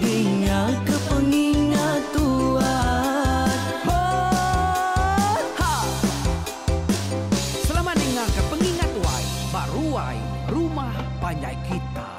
Dingaka pengingat tuan. Ho ha. Selamat dingaka pengingat tuan ba ruai rumah panjai kitai.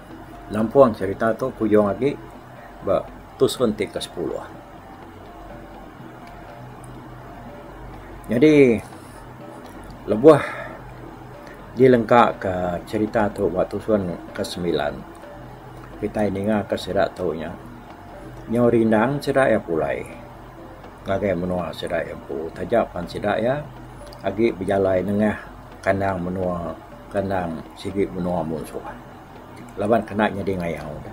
Lampung cerita tu kujung agi ba tusun ti ke sepuluh. Nyadi lebuh dilengka ka cerita tu ba tusun ke semilan kitai ninga ka sida tu nya nyau rindang sida iya pulai ngagai menua sida iya empu taja pan sida iya agi bejalai nengah kandang menua kandang sigi menua munsuh. laban kena nyadi ngayau ne.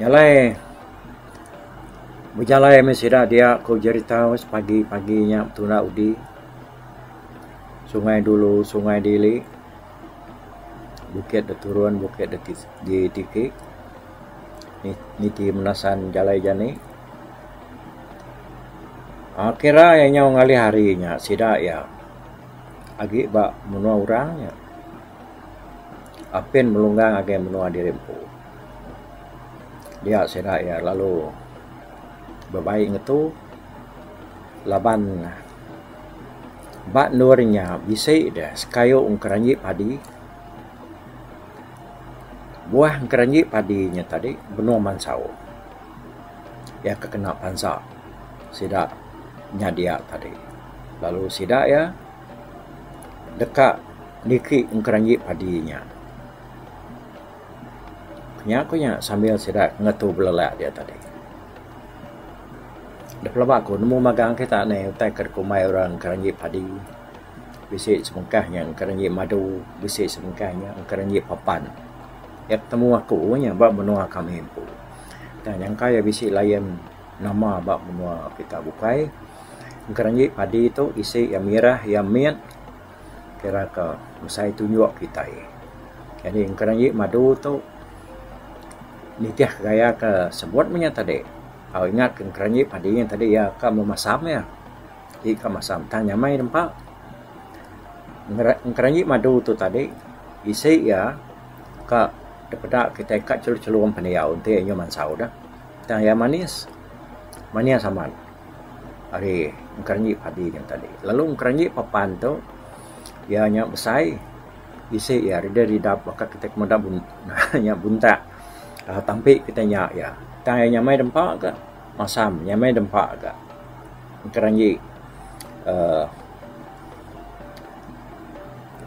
Jalai bejalai meh sida dia ku jerita Aus pagi pagi nya betuna udi Sungai Dulu Sungai Dili bukit da turun bukit da tiki niti menasan jalai jani akhir nya inya ngalih hari nya sida iya. agi ba menua orang nya apin melunggang agei menua diri empu. Dia sida iya lalu bebaie ngetu laban ba endur inya bisi deh sekayu ngeranji padi. Buah ngeranji padi nya tadi benung mansau. Iya ke kena pansa sida nya dia tadi. Lalu sida iya deka niki ngeranji padi inya. Nya ku nya sambil sida ngetu belele dia tadi. Da pelaba ku nemu magang kita ne utai ke dikumbai orang ngeranji padi. Bisi sebengkah nya ngeranji madu, bisi sebengkah nya ngeranji papan. Iya betemu aku nya ba menua kami empu. Tang nyangka iya bisi lion. nama ba menua kita bukai ngkang ji padi tu isi iya mirah iya mit kira ka mesai tunjuk kitai jadi ngkang ji madu tu nitih gaya ka sebut mung nya tadi tau ingat ka ngkang ji padi nya tadi iya ka mung masam iya ti ka masam tang nyamai nempa ngkang ji madu tu tadi isi iya ka dipeda kitai ka chelum-chelum pendiau enti inya mansau da. Tang iya manis, manis amat ari engkeranji padi nya tadi. Lalu engkeranji papan tu iya nya besai isi iya ridap-ridap baka kitai ke meda aaa nya buntak aaa tampi kitai nya iya. Tang iya nyamai da empa ka masam, nyamai da empa ka engkeranji aaa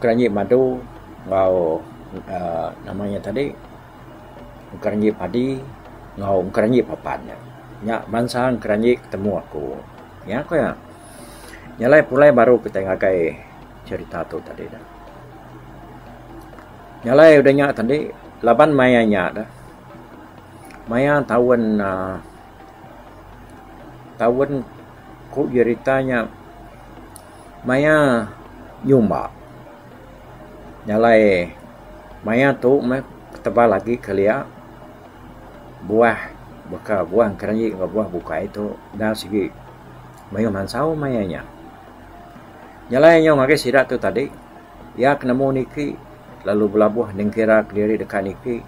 engkeranji madu enggau aaa nama nya tadi. engkeranji padi enggau engkeranji papan nya. Nya bansa engkeranji ke temu aku. Nya ku iya. Nya alai pulai baru kitai ngagai cherita tu tadi dah. Nya alai udah nya tadi laban maya nya dah maya taun aaa taun ku jerita nya Maya nyumba jalai maya tu meh tebal agi kelia buah baka buah engkereji enggau buah bukai tu enda sigi mayuh mansau maya nya. Jalai nyau ngagai sida tu tadi iya ke nemu niki lalu belabuh nengkira kediri deka niki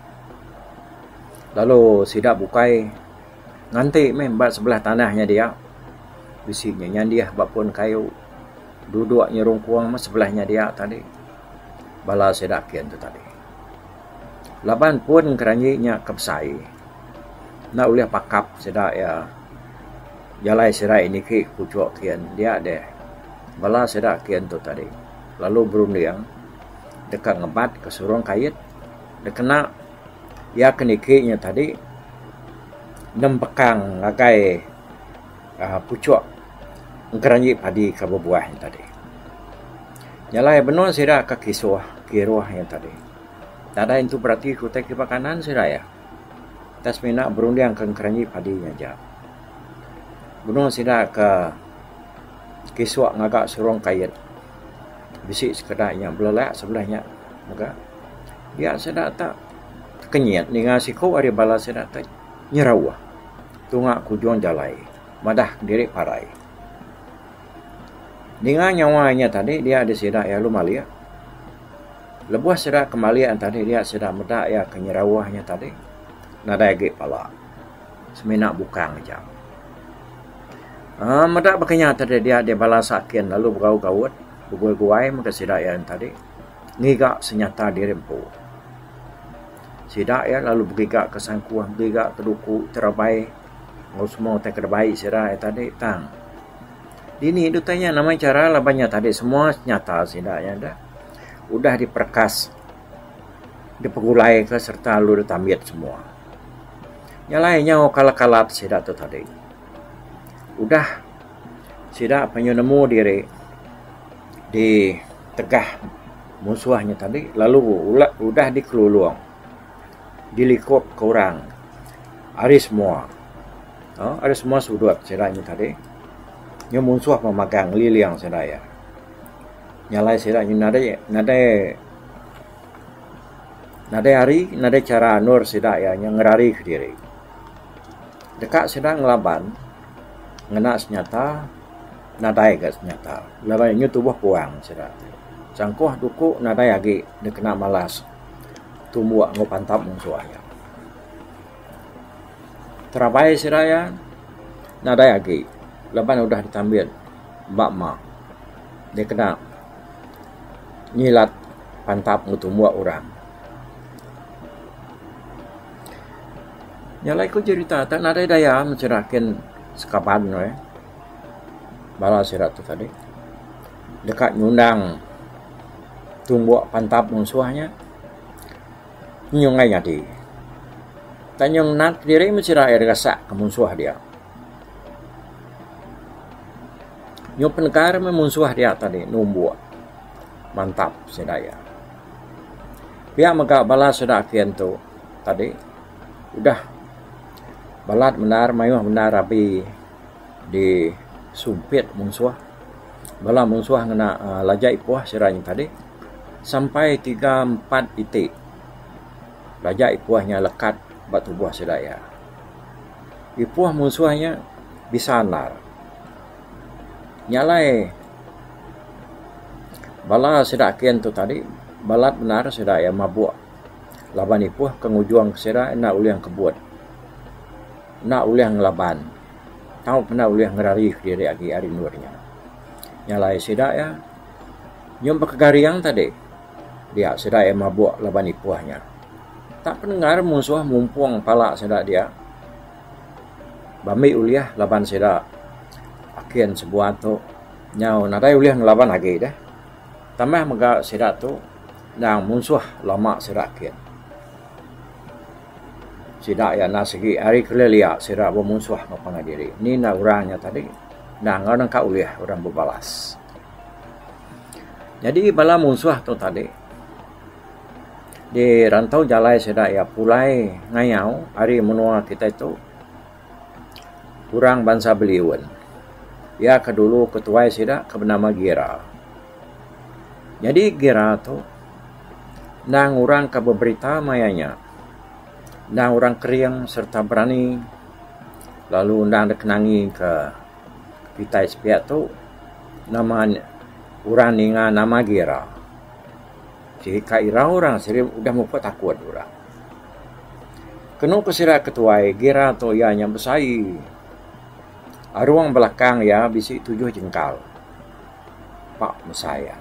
lalu sida bukai. Nganti meh ba sebelah tanah nya dia. Bisi nya nyandih ba pun kayu. Duduk nyerungkung meh sebelah nya dia tadi. Bala sida kin tu tadi. Laban pun keranji nya ke besai, enda ulih pakap sida iya jalai sirai niki ke puchuk kin. Dia deh bala sida kin tu tadi lalu berunding deka ngebatka surung kait dikena. Iya ke niki inya tadi nembekang ngagai aaa puchok ngeranji padi ke bebuah inya tadi. Nya alai benung sida ke kisuh kiruh inya tadi. Nadai nentu berati ke utai kipak kanan sida iya. Utai semina berundingka ngeranji padi inya aja. Benung sida ke. Kisua ngaga serong kait. Bisi sekeda inya belelak sebelih nya mega. Dia sida tak kenyit ninga siku ari bala sida tu nyerauh tunga ke ujung jalai madah diri parai. Ninga nyawa inya tadi dia di sida iya lalu malik. Lebuh sida ke malik tadi dia sida meda iya ke nyerauh inya tadi nadai agi pala. semina bukang aja. Aaa meda baka nya tadi dia deh bala sakin lalu begau gaut begui guai mega sida iya ain tadi ngiga senyata diri empu. Sida iya lalu begiga ka sangkuh begiga ka duku ti rabai enggau semua utai ke dibai sida iya tadi tang dini deh utai nya nama chara laban nya tadi semua senyata sida iya deh udah diperekas. dipegulai ka serta lalu dep tambit semua. Nya alai nyau kalat kalat sida tu tadi. Udah sida penyu nemu diri di tegah musuh nya tadi lalu ulak udah di kelulong di likop ke orang ari semua aaa ari semua sudut sida nya tadi nya musuh pemagang ngeliling sida iya. Nya alai sida nya nadai nadai Nadai hari, nadai chara anur sida iya nya ngerarika diri. Deka sida ngelaban ngena senyata, nadai ga senyata. Laban iya nya tubuh puang sida ti. Changkuh duku nadai agi dikena malas tumbuk enggau pantap munsuh iya. Terabai sida iya nadai agi laban udah ditambit ba mah dikena ngilat pantap enggau tumbuk orang. Nyelai ku jerita tu nadai daya mancundah nyiken sekaban ne bala sida tu tadi deka nyundang tumbuk pantap munsuh nya nyungai nyadi. Tang nyung nat diri meh sida gasak ke munsuh dia. Nyau penekar meh munsuh dia tadi numbuk mantap sida iya. Pia mega bala sida ati antu tadi udah balat bendar mayuh bendar abi di sumpit munsuh. Bala munsuh ngena aaa laja ipuh sida nya tadi sampai tiga empat iti laja ipuh nya lekat ba tubuh sida iya. Ipoh munsuh nya bisa andal. Nya alai bala sida ake antu tadi balat banar sida iya mabok laban ipoh ke ngujung ke sida enda ulih kebut enda ulih ngelaban tau pun enda ulih ngerari ke diri agi ari endur nya. Nya alai sida iya nyun baka garing tadi. dia sida iya mabuk laban ipuh nya. Tak pendengar musuh mumpung pala sida dia ba ambi ulih laban sida akin sebuah tu nyau nadai ulih ngelaban agi deh. Tambah mega sida tu endang musuh lama sida akin. Sida iya enda sigi ari kelilia sida bemusuh enggau pangan diri. Ni enda urang nya tadi enda enggau nengka ulih urang bebalas. Nyadi bala munsuh tu tadi dirantau jalai sida iya pulai ngayau ari menua kitai tu orang bansa beliun. Iya ke dulu ketuai sida ke benama Gira. Nyadi Gira tu endang orang ke beberita maya nya endang orang kering sereta berani lalu endang deka nangi ke. kitai sepiak tu nama ne orang ninga nama agi ira. Siti ka ira orang siti udah mupuk takun orang. Kenu ku sida ke tuai gira tu iya nya besai arung belakang iya bisi tujuh jengkal pak mesai iya.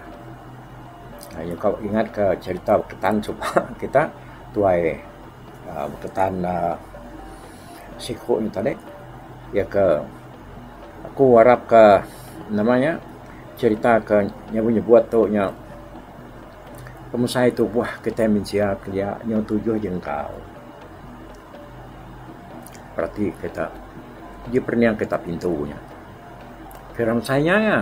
Nyungka ingat ka cherita beketan suba kita tuai. Baka tan siku ne tadi iya ke aku arap ke nama nya cerita ke nyebut nyebut tu nya pemesai tubuh kita mensia ti dia nyau tujuh jengkau reti kita uji perening kita pintu nya kira mesai inya aja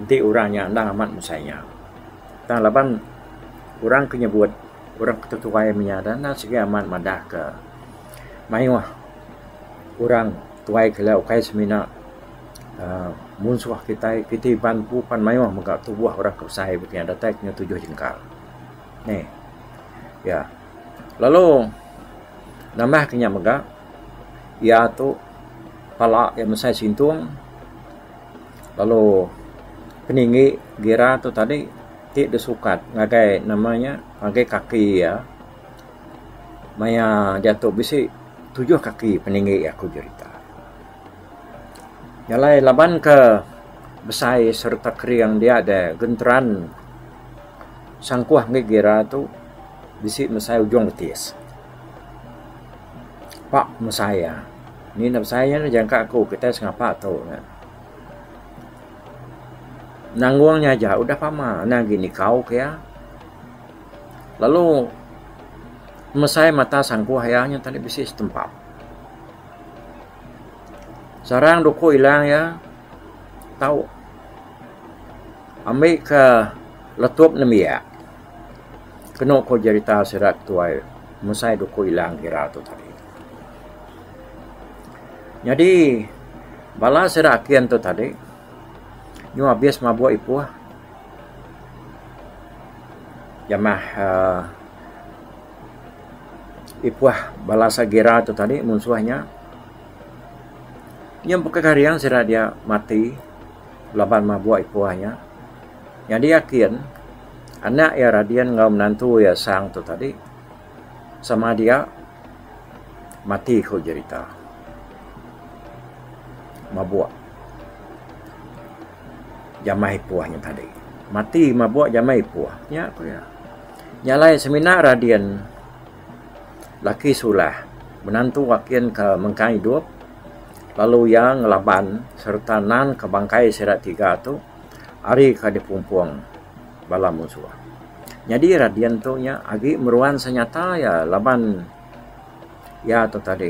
enti orang nya enda amat mesai inya. Tang laban orang ke nyebut orang ke tetuai inya dah enda sigi amat madah ke mayuh orang tuai ke laya ukai semina uhh munsuh kitai. Kitai iban empu pan mayuh mega tubuh orang ke besai baka iya datai kinya tujuh jengkal. Neh iya lalu nambah ke inya mega iya tu pala iya mesai sintung. Lalu peninggi gira tu tadi ti deh sukat ngagai nama nya ngagai kaki iya maya diatu bisi tujuh kaki peninggi aku jerita. Iya alai laban ke besai sereta kering dia deh genteran sangkuh mih gira tu bisi mesai ujung betis. Pak mesai iya. Ni enda besai nya dah jangka aku kitai sengapa tu nya. Nanggung nya aja udah pama endang agi nikau ke iya. Lalu mesai mata sangkuh iya nya tadi bisi setempa. Sarang duku ilang iya tau ambi ke letup nembiak kenu ku jerita sida ke tuai mesai duku ilang ira tu tadi. Nyadi bala sida akin tu tadi nyuh abis mabuk ipuh jamah uhh ipuh bala sagira tu tadi munsuh nya. Nya baka garing sida dia mati laban mabuk ipuh nya. Nyadi akin anak iya radin enggau menantu iya sang tu tadi. sama dia mati ku jerita mabuk jamai ipuh nya tadi. Mati mabuk jamai ipuh nya ku iya. Nya alai semina radin laki sulah menantu akin ke mengkang idup lalu iya ngelaban sereta nanka bangkai sida tiga tu ari ke dipumpung. bala munsuh. Nyadi Radian tu nya agi meruan senyata iya laban iya tu tadi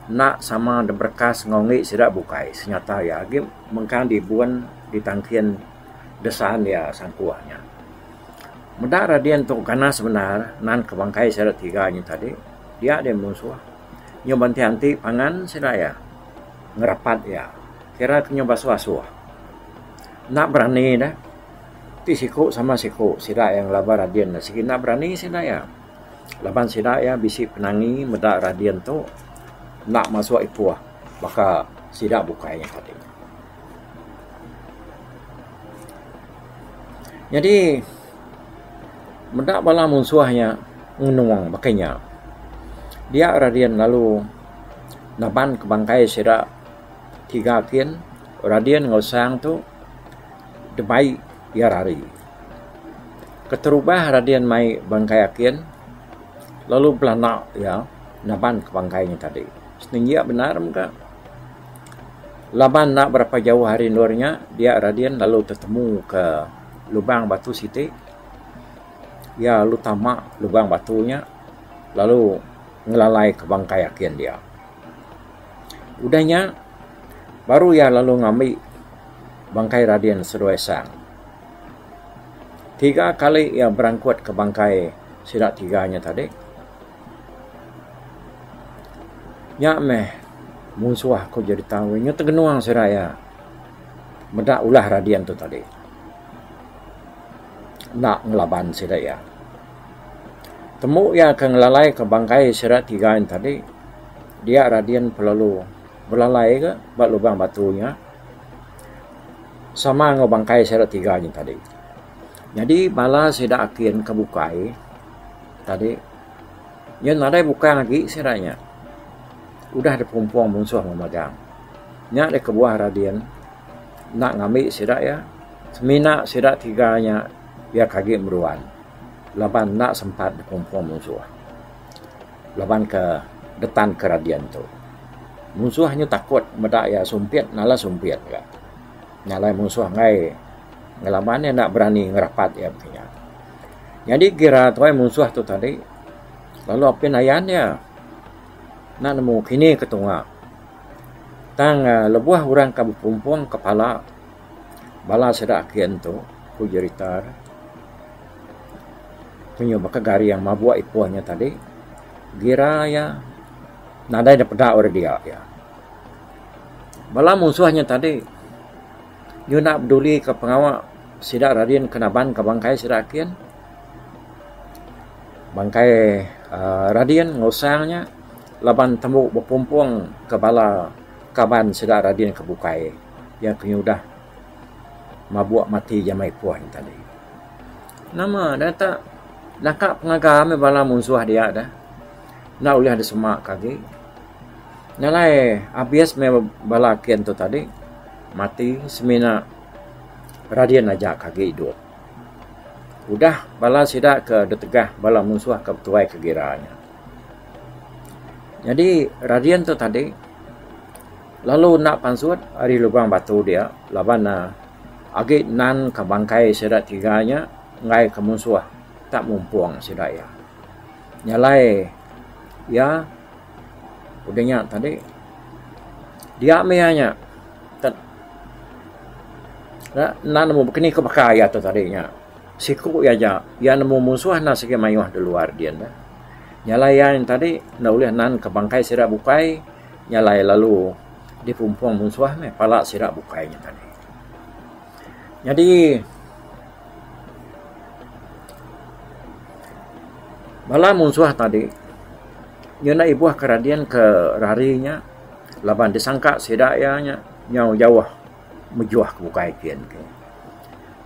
enda sama diberekas enggau indi sida bukai senyata iya agi mengkang dibun ditangkin desaan iya sangkuh nya. Meda Radian tu ganas bendar nan ke bangkai sida tiga nya tadi dia deh munsuh nyau ba enti enti pangan sida iya ngerapat iya kira ke nyau basuh asuh enda berani deh. Ti siku sama siku sida iya ngelaba radian ne sigi enda berani sida iya laban sida iya bisi penangi meda radian tu enda masuk ipuh baka sida bukai nya tadi. Nyadi meda bala munsuh nya ngenung baka nya dia radian lalu naban ke bangkai sida tiga kin radian enggau sang tu. Debai iya rari. Keterubah Radin mai bangkai Akin lalu belanda iya naban ke bangkai nya tadi. Senenggi iya bendar mega. Laban enda berapa jauh ari endur nya, dia Radin lalu tetemu ke lubang batu siti. Iya lalu tama lubang batu nya lalu ngelalai ke bangkai akin dia. Udah nya, baru iya lalu ngambi bangkai Radin Seduai Sang. Tiga kali iya berangkutka bangkai sida tiga nya tadi. Nya meh munsuh aku jadi tau inya tegenung sida iya meda ulah Radin tu tadi. Enda ngelaban sida iya. Temu iya ke ngelalai ke bangkai sida tiga ain tadi dia Radin Pelalu belalai ga ba lubang batu nya sama enggau bangkai sida tiga ain tadi. Nyadi bala sida akin ke bukai tadi iya nadai bukai agi sida nya udah dipumpong munsuh enggau magang. Nya deh kebuah Radin enda ngambi sida iya semina sida tiga nya. Iya ke agi meruan laban enda sempat bekumpung munsuh laban ke getan ke radian tu. Munsuh nyu takut meda iya sumpit nalan sumpit ga. Nyalai munsuh enggai ngelaban iya enda berani ngerapat iya baka nya. Nyadi gira tuai munsuh tu tadi lalu apin ayan iya enda nemu kini ke tunga. Tang lebuh orang ke bekumpung ke pala. Bala sida aki ento ku jerita ne panyuh baka garing mabuk ipoh nya tadi gira iya nadai ne peda ora dia iya. Bala musuh nya tadi nyu enda peduli ka pengawa sida radin ke naban ka bangkai sida aki en. Bangkai uhh radin ngusang nya laban tembu bepumpong ka bala kaban sida radin ke bukai. Iya ke nyudah mabuk mati jamai puan tadi. Nama deh tak naka pengaga meh bala munsuh dia deh. Enda ulih deh semak ke agi. Nalai abis meh bala kin tu tadi mati semina radin aja ke agi idup. Udah bala sida ke ditegah bala munsuh ke betuai ke gira nya. Nyadi radin tu tadi. Lalu enda pansut ari lubang batu dia laban ne agi nan ka bangkai sida tiga nya enggai ka munsuh ta mumpung sida iya. Nyalai iya udah nya tadi dia mih iya nya tet nya enda nemu keni ke baka iya tu tadi nya siku iya aja iya nemu munsuh enda sigi mayuh da luar din deh. Nyalai iya nya tadi enda ulih nan ka bangkai sida bukai. Nya alai lalu dipumpung munsuh meh pala sida bukai nya tadi. Nyadi bala munsuh tadi ngena ibuh ke radin ke rari nya laban disangka sida iya nya nyau jauh mejuh ke bukai kin ke.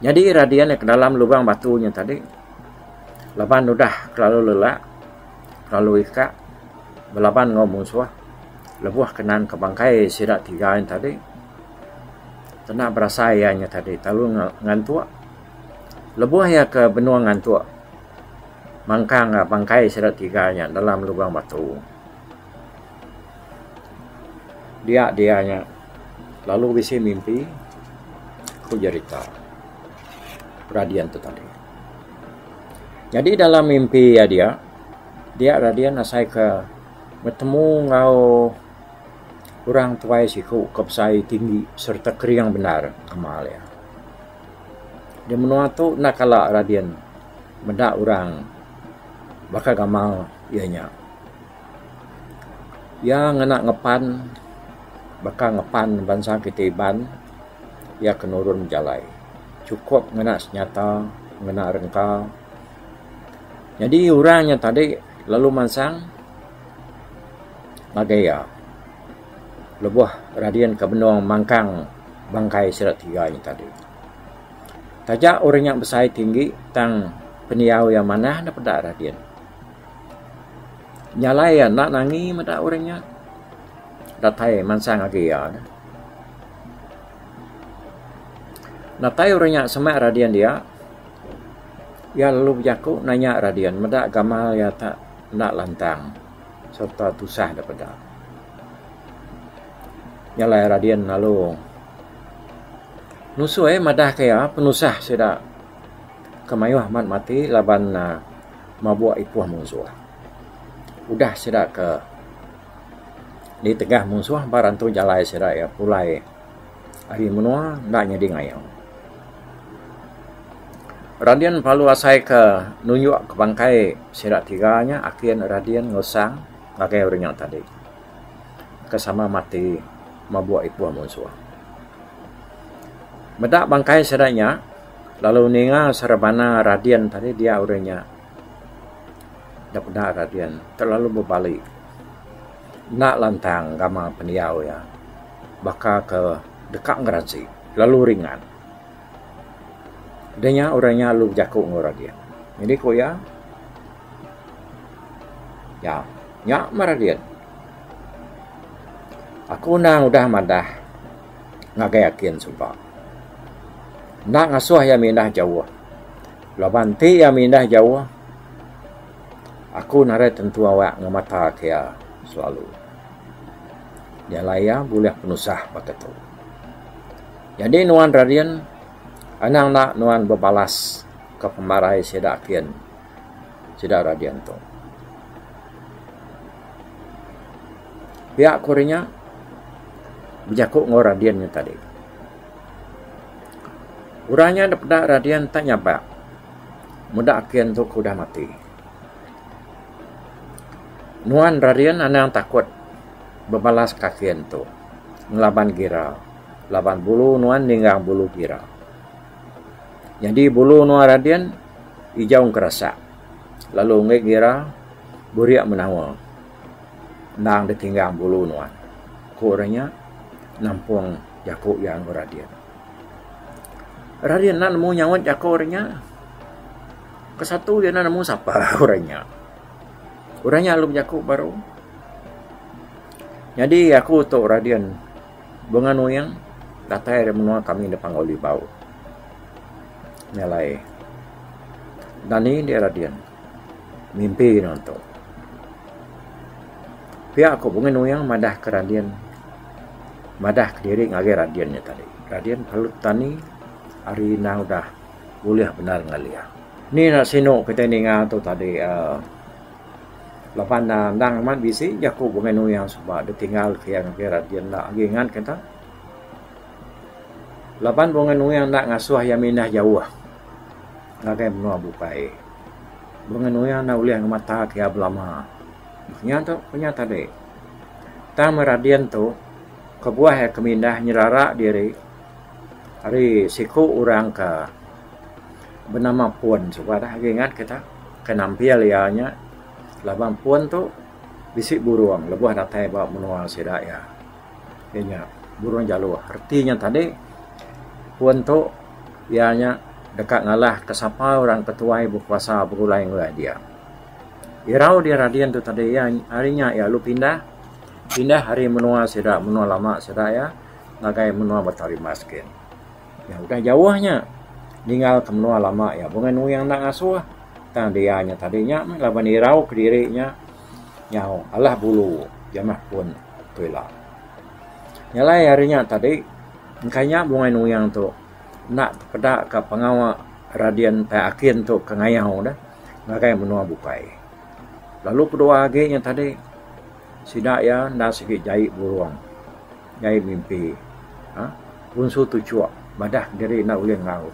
Nyadi radin iya ke dalam lubang batu nya tadi laban udah kelalu lelak. lalu ika belaban enggau munsuh lebuh ke nan ke bangkai sida tiga ain tadi kena berasai iya nya tadi lalu ngantuk lebuh iya ke benung ngantuk mangkang bangkai sida tiga nya dalam lubang batu dia dia nya lalu bisi mimpi ku jerita peradia tu tadi. Nyadi dalam mimpi iya dia, dia Radin asai ke betemu enggau orang tuai siku ke besai tinggi sereta kering bendar amal iya. Di menua tu enda kala Radin meda orang baka gamal iya nya. Iya ngena ngepan baka ngepan bansa kita Iban. iya ke nurun bejalai. Chukup ngena senyata, ngena rengka. Nyadi orang nya tadi lalu mansang ngagai iya lebuh radin ke benung mangkang bangkai sida tiga nya tadi. Taja orang nya besai tinggi tang pendiau iya manah ne peda radin. Jalai iya enda nangi meda orang nya datai mansang ngagai iya. Datai orang nya semak radian dia, iya lalu bejaku nanya radian meda gamal iya ta enda lantang sereta tusah dep deka. Nya alai radian lalu nusoi madahka iya penusah sida ke mayuh amat mati laban mabuk ipuh munsuh. Udah sida ke. Di tengah munsuh ba rantu jalai sida iya pulai ari menua enda nyadi ngayau. Radin Palu Asai ke nunjuk ke bangkai sida tiga nya akin Radin Ngulsang ngagai orang nya tadi ke sama mati mabuk ipuh munsuh. Meda bangkai sida nya lalu ninga serebana Radin tadi dia orang nya da peda Guardian terlalu bebali enda lantang gamal pendiau iya baka ke deka ngeransi lalu ringan. Deh nya orang nya lalu bejaku enggau Guardian. Jadi ku iya ya nya mah Guardian. Aku enda ngudah madah ngagai Akin suba. Enda ngasuh iya mindah jauh. Laban ti iya mindah jauh, aku nadai tentu awak ngemata ke iya selalu. Jalai iya bulih penusah baka tu. Nyadi nuan Radin, anang enda nuan bebalas ka pemarai sida kin sida Radin tu. Pia ku ri nya bejaku enggau Radin nya tadi. Orang nya enda peda Radin enta nyabak. Meda ake antu ke udah mati. Nuan Radin anang takut bebalas ke ake antu ngelaban gira laban bulu nuan ninggang bulu gira. Nyadi bulu nuan Radin ijau ngerasak lalu enggai gira burik menawa endang ditinggang bulu nuan, ku orang nya nampung. jaku iya enggau Radin. Radin enda nemu nyaut jaku orang nya. Kesatu iya enda nemu sapa orang nya. Orang nya lalu bejaku baru. Nyadi aku tu Radin Bunga Nuyang datai dari menua kami di Panggau Libau. Nyalai. Dan ni dia Radin. mimpi nuan tu. Pia ku Bungei Nuyung madah ke Radin madah kediri ngagai Radin nya tadi. Radin perlu petani ari enda udah bulih bendar ngali iya. Ni nya sinu kitai ninga tu tadi uhh laban ne endang amat bisi jaku Bungei Nuyung suba dep tinggal ke iya ngagai Radin enda agi ngat ke enta. Laban Bungei Nuyung enda ngasuh iya mindah jauh. ngagai menua bukai. Bengenu iya enda ulih ngemata ke iya belama. Meh nya tu ku nya tadi. Tang meh Radin tu kebuah iya ke mindah nyerara diri ari siku orang ke benama Pun. Suba dah agi ingat kita ke nampil iya nya laban Pun tu bisi burung lebuh datai ba menua sida iya. iya nya burung jaluh reti nya tadi pun tu iya nya deka ngalah ke sapa orang ketuai bekuasa begulai ngereja dia. Irau dia radin tu tadi iya ari nya iya lalu pindah pindah ari menua sida menua lama sida iya ngagai menua Batang Rimas gin. Iya udah jauh nya ningal ke menua lama iya bunga nuing enda ngasuh tang dia nya tadi nya meh laban irau kediri nya Nyau alah bulu jamah pun tu ila. Nyalai ari nya tadi, engkai nya bungai nuyang tu enda tepeda ka pengawa Radin Tai Akin tu ke ngayau deh ngagai menua bukai. Lalu kedua agi nya tadi, sida iya enda sigi jai burung, jai mimpi uhh punsu tuchok madah diri enda ulih ngau.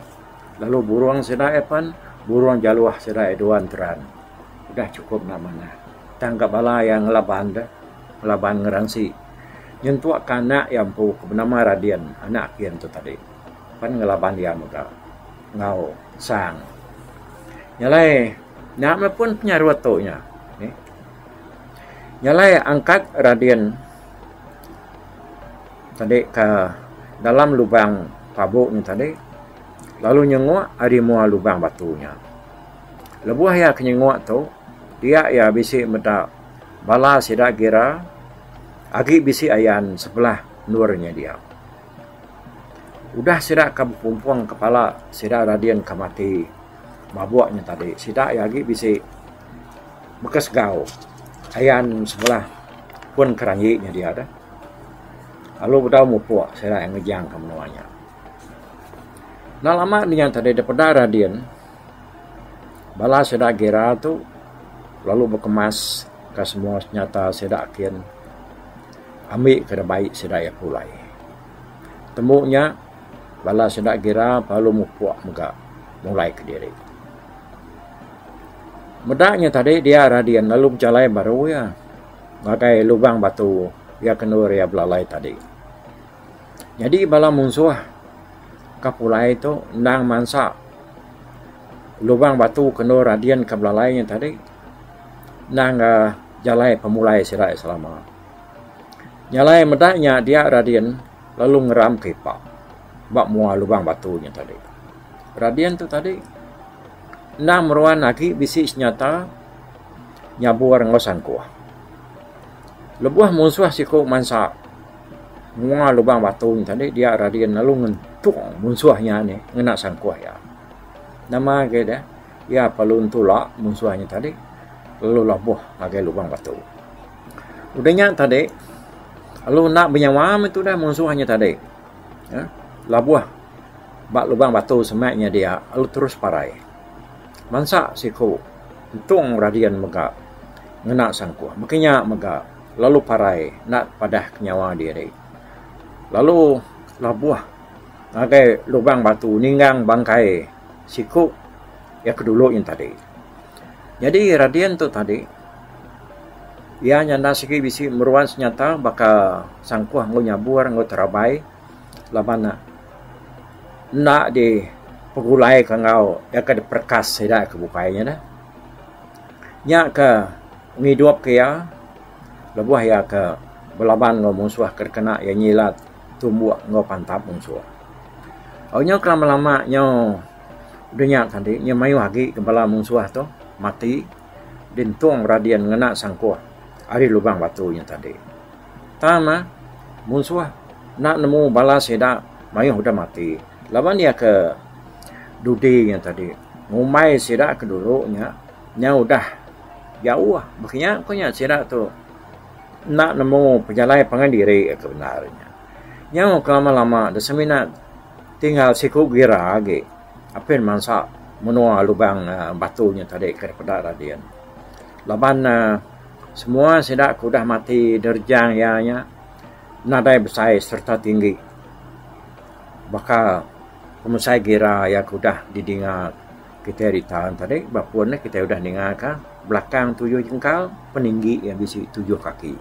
Lalu burung sida iya pan, burung jaluh sida iya dua enteran. udah chukup enda manah. Tang ga bala iya ngelaban deh, ngelaban ngeransi nyentuk ka anak iya empu ke benama Radin, anak aku iya ntu tadi. Pan ngelaban iya mega enggau Sang. Nya alai nya pun penyarut tu nya. Nya alai angkat Radin tadi ka dalam lubang pabu nya tadi lalu nyenguk ari mua lubang batu nya. Lebuh iya ke nyenguk tu, dia iya bisi meda bala sida gira agi bisi ayan sebelah endur inya dia. Udah sida ke bepumpung kepala sida radin ke mati mabuk nya tadi, sida iya agi bisi baka segau ayan sebelah pun keranji nya dia deh. Lalu bedau mupuk sida iya ngejang ke menua nya. Enda lama dinga tadi da peda Radin, bala sida Gira tu lalu bekemas ka semua senjata sida kin ami ka da bai sida iya pulai. Tembu nya bala sida Gira lalu mupuk mega mulai kediri. Meda nya tadi dia Radin lalu bejalai baru iya ngagai lubang batu iya kendur iya belalai tadi. Nyadi bala munsuh ka pulai tu endang mansa lubang batu ke endur Radin ke belalai nya tadi endang uhh jalai pemulai sida iya selama. Jalai meda nya dia Radin lalu ngeram ke ipa ba mua lubang batu nya tadi. Radin tu tadi endang meruan agi bisi senjata nyabur enggau sangkuh. Lebuh munsuh siku mansa. Menua lubang batu nya tadi dia radin lalu ngentung munsuh nya nih ngena sangkuh iya. Nama agei deh iya perlu ntula munsuh nya tadi lalu labuh ngagai lubang batu. Udah nya tadi lalu enda benyawa meh tudah munsuh nya tadi uhh labuh ba lubang batu sema nya dia lalu terus parai. Bansa siku ngentung radin mega ngena sangkuh maka nya mega. lalu parai enda padahka nyawa diri lalu labuh ngagai lubang batu ninggang bangkai siku iya ke dulu nya tadi. Nyadi Radin tu tadi iya nya enda sigi bisi meruan senyata baka sangkuh enggau nyabur enggau terabai laban ne enda dipegulai ka enggau iya ke diperekas sida ke bukai nya neh. Nya ke. ngidupka iya lebuh iya ke belaban enggau munsuh ke dikena iya nyilat tumbuk enggau pantap munsuh. Au nyau ke lama lama nyau dunya tadi nya mayuh agi ke bala munsuh tu mati dintung beradin ngena sangkuh ari lubang batu nya tadi. Tang mah munsuh enda nemu bala sida mayuh udah mati laban iya ke dudi nya tadi ngumbai sida ke dulu nya nya udah Jauh baka nya ku nya sida tu enda nemu pejalai pangan diri tu bendar nya. Nyau ke lama lama da semina tinggal siku gira agi apin mansa menua lubang batu nya tadi ke peda radin. Laban uhh semua sida ke udah mati nerejang iya nya nadai besai serta tinggi baka pemesai gira iya ke udah didinga. Kitai ritaun tadi ba pun ne kitai udah ningaka belakang tuyuh jengkal peninggi iya bisi tuyuh kaki.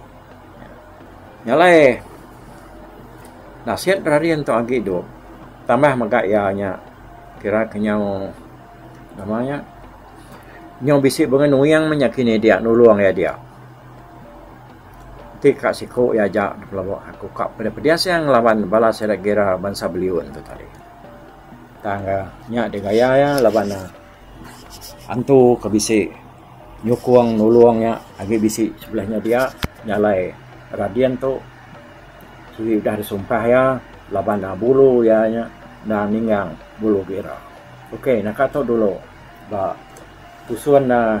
Nya alai nasit rarin tu agi dok tambah mega iya nya kira ke nyau nama nya nyau bisi bengenuing meh nya kini dia nulung iya dia. Ti ka siko iya aja dipelebok aku ka pedeh-pedeh seh ngelaban bala sida gira bansa beliun tu tadi. Tang ga nya digaya iya laban ne antu ke bisi nyukung nulung iya agi bisi sebulih nya dia nya alai Radin tu sugi udah disumpah iya laban ne bulu iya nya enda ninggang bulu gira. Ok naka tu dulu ba tusun uhh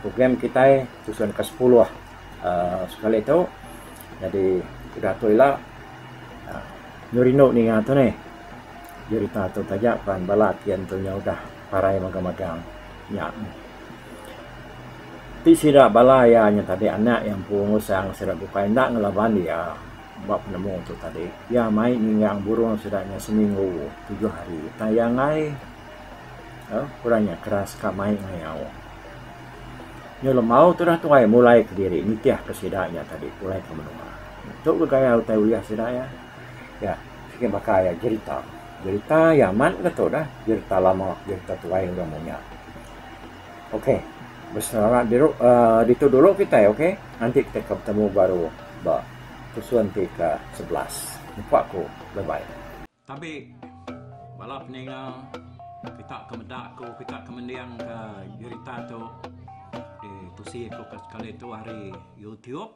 program kitai tusun ke sepuluh uhh sekali tu jadi udah tu ila nyu rindu ninga tu neh. Jerita tu taja pan bala ti antu nya udah parai magang-magang nya. Ti sida bala iya nya tadi anak iya empu ngusang sida bukai enda ngelaban iya ba penemu tu tadi. Iya mai nyinggang burung sida nya seminggu tujuh hari utai iya enggai uhh ku orang nya keras ka mai ngayau. Nyau lembau tu dah tuai mulaika diri nitihka sida nya tadi pulai ke menua. Tu gaya utai ulih sida iya. Nya siti baka iya jerita. Jerita iya amat ne tu dah. Jerita lama, jerita tuai orang mung nya. Ok, beselera diru uhh ditu dulu kitai ok. Enti kitai ka betemu baru ba episode ti ke sebelas. Nyempa aku. Bye bye. Tabi bala peninga kita ke meda aku, kita ke mendingka jerita tu ditusi aku sekali tu ari youtube.